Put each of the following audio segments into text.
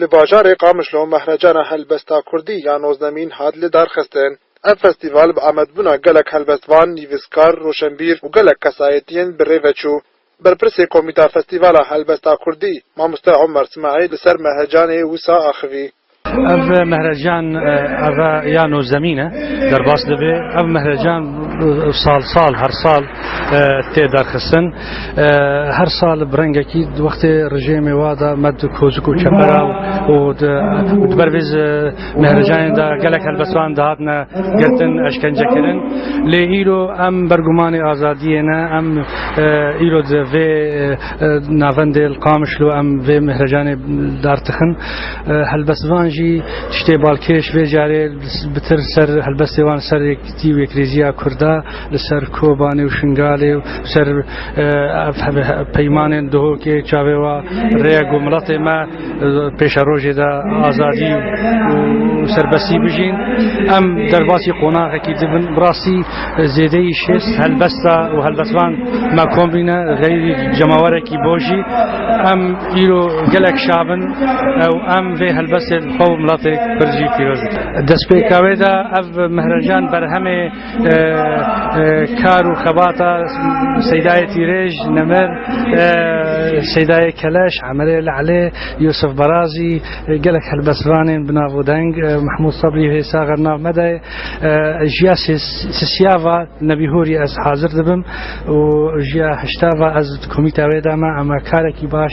Li bajarê Qamişlo Mehracana Helbesta Kurdî ya nozdemîn hat lidarxistin. Ev festîval bi amedbûna gelek helbestvan, nivîskar, roşenbîr û gelek kesayetiyên bi rê ve çû. Berpirsê Komîta Festîvala Helbesta Kurdî, Mamoste Omer Simaî li ser mehrecanê wisa axivî. Ev mehrecan ev e ya nozemîn e derbas dibe. Ev mehrecan sal sal her sal tê derxistin. Her sal bi rengekî wextê rejêmê wa de me di kozik û çepera û di ber vê Mehrecanên de gelek helbestvan dihatine girtin, eşkencekirin. Lê îro em bergumanê azadiyê ne. Em îro di vê navendê li Qamişlo em vê mehrecanê dar dixin. Helbestvan jî tiştê balkêş vê carê bi tir ser helbestê wan ser yekitî û yekrêziya Kurd e li ser Kobanê û Şingalê û ser ev peymanên dihokê çavê wa rêya ku miletê me Pêşerojê de azadî û serbestî bijîn. Em derbasî qonaxekî dibin. Bi rastî zêdeyî şês helbesta û helbestvan me kom bîne. Xeylî cemawerekî bo jî. Em îro gelek şav in û em vê helbestê li xwe û miletê kurd jî pîroz dikin. Destpêka wê de ev mehrecan berhemê Kar û xebata Seydayê Tîrêj, Nemir, Seydayê Keleş, Emelê Lelê, Yûsif Barazî, gelek helbestvanên bi nav û deng, Mehmûd Sebrî hê sax e li nav me de ye. Ji ya sisiya ve Nebîhorî ez hazir dibim û ji ya heşta ve ez di komîta wê de me. Em karekî baş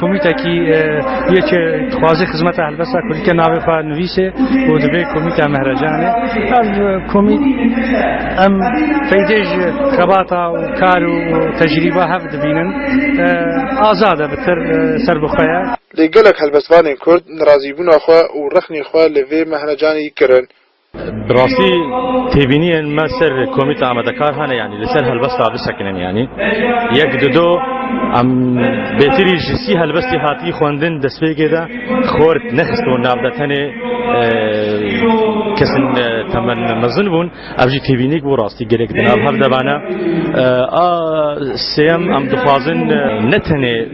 Komîtekî yê ke dixwazê xizmeta helbesta kurdîke navê xwe nivîsê û divê komîte mehrecan e. Ev komît em feydê ji xebata û kar û tecrîba hev dibînin. Azad e bi tir ser bi xwe ye. Lê gelek helbestvanên kurd nirazîbûna xwe û rexnê xwe li vê mehrecanî kirin Bi rastî têbîniyên me ser Komîta Amedekar hene yanî li ser helbesta bisekinin yanî yek di do em bêtirî ji sî helbestî hatî xwendin destpêkê de xort nexistibûn navde tenê kesin temen mezin bûn ev jî têbînik bû rastî gelek di nav hev de vane a sêyem em dixwazin ne tenê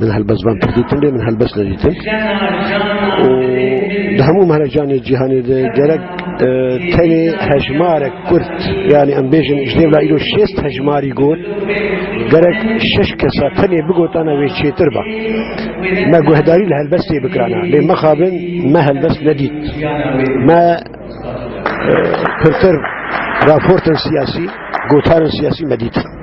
Min helbest van pir dîtin bê, min helbest nedîtin. Û di hemû mehrecanê cîhanê de gerek e, tenê hejmarek Kurd yanî em bêjin ji dêvla îro şêst hejmarî got gerek şeş kesa tenê bigotana wê çêtir ba. Me guhdarî li helbestê bikirana. Lê mexabin me helbest nedît. Me e, pirtir raportên siyasî, gotarên siyasî me dîtin.